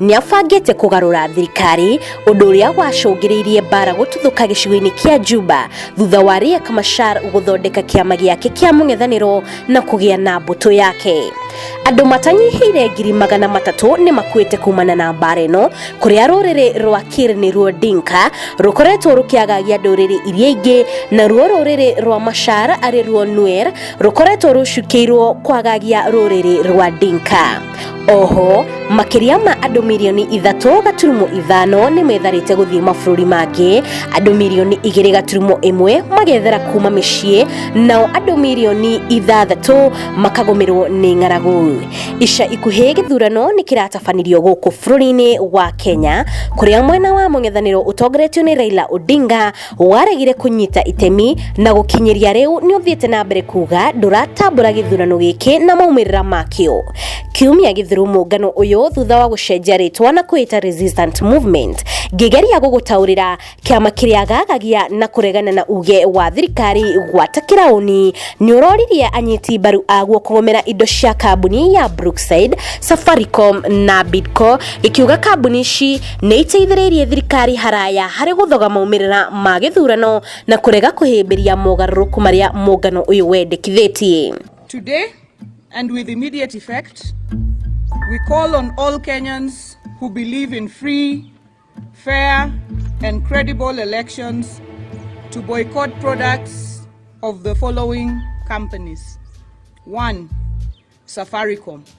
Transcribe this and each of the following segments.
nĩ abangĩte kũgarũra thirikari ũndũ ũrĩa wacũngĩrĩirie mbara gũtuthũka gĩcigo-inĩ kĩa Juba thutha wa Riek Machar gũthondeka kĩama gĩake kĩa mũng'ethanĩro na kũgĩa na mbũtũ yake. Andũ matanyihĩire ngiri magana matatũ nĩ makuĩte kumana na mbara ĩno kũrĩa rũrĩrĩ rwa Kir nĩ ruo Dinka rũkoretwo rũkĩagagia ndũrĩrĩ iria ingĩ na ruo rũrĩrĩ rwa Machar arĩ ruo Nuer rũkoretwo rũcukĩirwo kwagagia rũrĩrĩ rwa Dinka. oho makĩria ma andũ mirioni ithatũ gaturumo ithano nĩ metharĩte gũthiĩ mabũrũri mangĩ andũ mirioni igĩrĩ gaturumo ĩmwe magethera kuma mĩciĩ nao andũ mirioni ithathatũ makagũmĩrwo nĩ ng'aragu ica ikuhĩ gĩthurano nĩ kĩratabanirio gũkũ bũrũri-inĩ wa kenya kũrĩa mwena wa mũng'ethanĩro ũtongoretio nĩ raila odinga waregire kũnyita itemi na gũkinyĩria rĩu nĩ ũthiĩte na mbere kuga ndũratambũra gĩthurano gĩkĩ na maumĩrĩra makĩo kiumia gĩthiru mũngano ũyũ thutha wa gũcenjia rĩtwa na kwĩta resistant movement ngĩgeria gũgũtaũrĩra kĩama kĩrĩa gagagia na kũregana na uge wa thirikari gwata kĩraũni nĩ ũroririe anyiti mbaru aguo kũgomera indo cia kambuni ya brookside safaricom na bidco gĩkiuga kambuni ici nĩ iteithĩrĩirie thirikari haraya harĩ gũthoga maumĩrĩra ma gĩthurano na kũrega kũhĩmbĩria mogarũrũku marĩa mũngano ũyũ wendekithĩtie. Today and with immediate effect, we call on all Kenyans who believe in free, fair, and credible elections to boycott products of the following companies. One, Safaricom.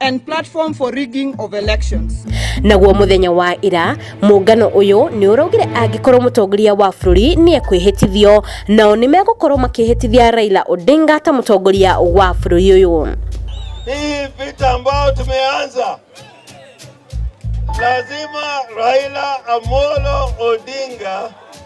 and platform for rigging of elections. naguo muthenya wa ira muungano uyu ni uraugire angikorwo mutongoria wa bururi ni ekwihitithio nao ni megukorwo makihitithia Raila Odinga ta mutongoria wa bururi uyu Hii vita ambayo tumeanza, lazima Raila Amolo Odinga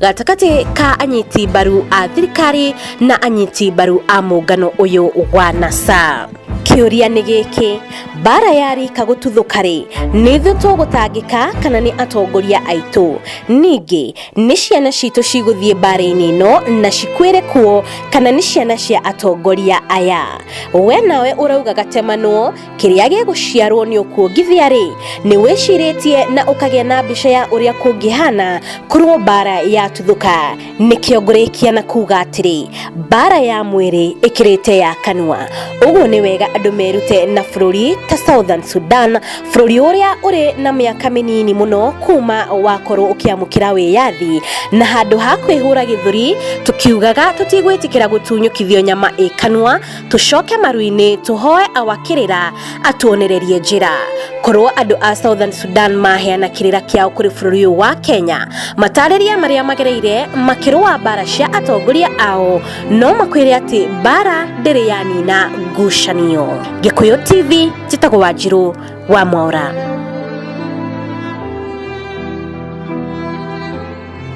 gatagatĩ ka anyiti mbaru a thirikari na anyiti mbaru a mũngano ũyũ wa nasa kĩũria nĩ gĩkĩ mbara ya rika gũtuthũka-rĩ nĩ ithuĩ tũgũtangĩka kana nĩ atongoria aitũ ningĩ nĩ ciana citũ cigũthiĩ mbara-inĩ ĩno na cikwĩre kuo kana nĩ ciana cia atongoria aya we nawe ũrauga gatemanwo kĩrĩa gĩgũciarwo nĩ ũkuongithia-rĩ nĩ wĩcirĩtie na ũkagĩa na mbica ya ũrĩa kũngĩhana korwo mbara yatuthũka nĩkĩo ngũrĩkia na kuga atĩrĩ mbara ya mwĩrĩ ĩkĩrĩte ya kanua ũguo nĩ wega andũ merute na bũrũri ta southern sudan bũrũri ũrĩa ũrĩ na mĩaka mĩnini mũno kuma wakorwo ũkĩamũkĩra wĩyathi na handũ ha kwĩhũra gĩthũri tũkiugaga tũtigwĩtĩkĩra gũtunyũkithio nyama ĩ kanua tũcoke maru-inĩ tũhoe awakĩrĩra atuonererie njĩra korwo andũ a southern sudan maheana kĩrĩra kĩao kũrĩ bũrũri ũyũ wa kenya matarĩria marĩa magereire makĩrũa mbara cia atongoria ao no makwĩre atĩ mbara ndĩrĩ yanina ngucanio gĩkũyũ tv njĩtagwo wanjirũ wa mwaũra